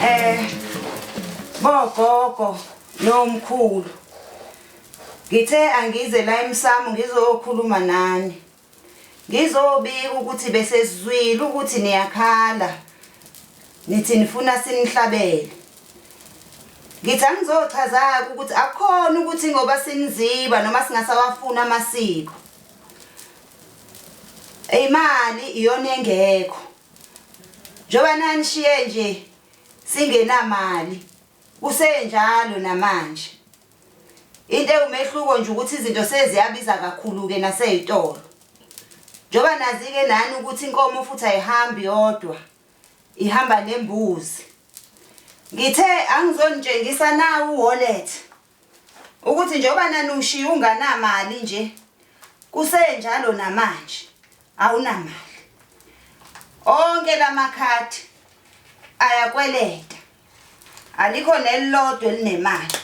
Eh bogogo nomkhulu Ngithe angize la emsamo ngizokhuluma nani ngizobika ukuthi besezwile ukuthi niyakhala Nithi nifuna sinihlabele. Ngithi angizochaza-ke ukuthi akukhona ukuthi ngoba siniziba noma singasawafuni amasiko. Imali iyona engekho. Njengoba nanishiye nje singenamali kusenjalo namanje. Into ewumehluko nje ukuthi izinto seziyabiza kakhulu-ke nasey'tolo. Njengoba nazi-ke nani ukuthi inkomo futhi ayihambi yodwa. ihamba nembuzi ngithe angizonitshengisa na uwallet ukuthi njengoba nanushiya unganamali nje kusenjalo namanje awunamali onke lamakhadi ayakweleta alikho nelilodwa elinemali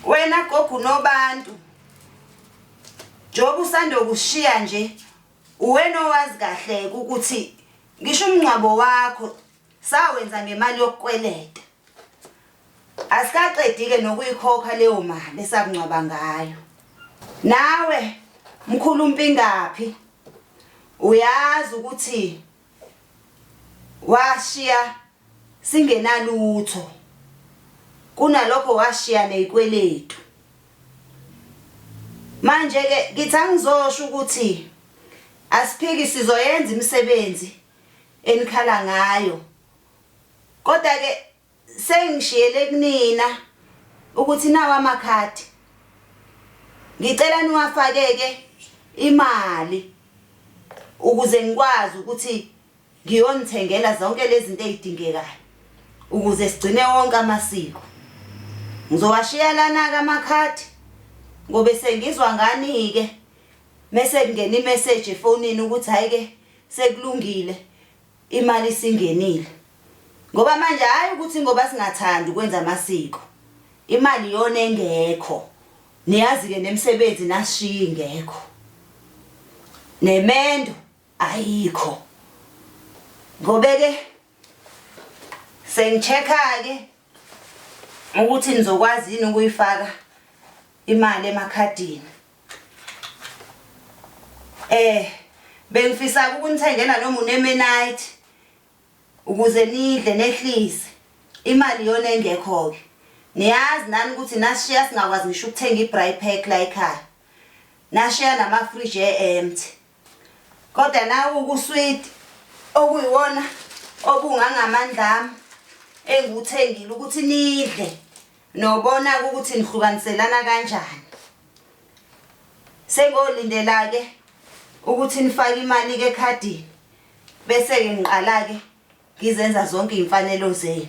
wena gogo nobantu njengoba usandokushiya nje Uwena owazi kahleke ukuthi ngisho umngcwabo wakho sawenza ngemali yokukweleta. Asikaqedike nokuyikhokha leyo mali esakungcwaba ngayo. Nawe mkhulu umpingaphi uyazi ukuthi Washiya singenalutho. Kunalokho washiya nezikweletu. Manje ke ngithi angizosho ukuthi asiphiki sizoyenza imisebenzi enikhala ngayo. Kodwa ke Sengishiyele kunina ukuthi nawa amakhadi. Ngicela niwafakeke imali ukuze ngikwazi ukuthi ngiyonithengela zonke lezi zinto ezidingekayo ukuze sigcine wonke amasiko. Ngizowashiya lana-ke amakhadi ngobe sengizwa ngani-ke mese kungena imeseji efonini ukuthi hhayi-ke sekulungile Imali isingenile ngoba manje hhayi ukuthi ngoba singathandi ukwenza amasiko. Imali iyona engekho. Niyazi-ke nemisebenzi nasishiya ingekho. Nemendo ayikho. Ngobe-ke sengi-check-a-ke ukuthi nizokwazi yini ukuyifaka imali emakhadini. Eh bengifisa ukunithengela noma unemenite ukuze nidle nehlise imali yona engekho ke niyazi nani ukuthi nashiya singakwazi ngisho ukuthenga i-bry pack la ekhaya nashiya namafriji e-empty kodwa nawe ukusweet okuyiwona obungangamandla ami engiwuthengile ukuthi nidle Nobona-ke ukuthi nihlukaniselana kanjani. Sengolindela-ke ukuthi nifake imali-ke ekhadini bese-ke ngiqala-ke ngizenza zonke iy'mfanelo zenu.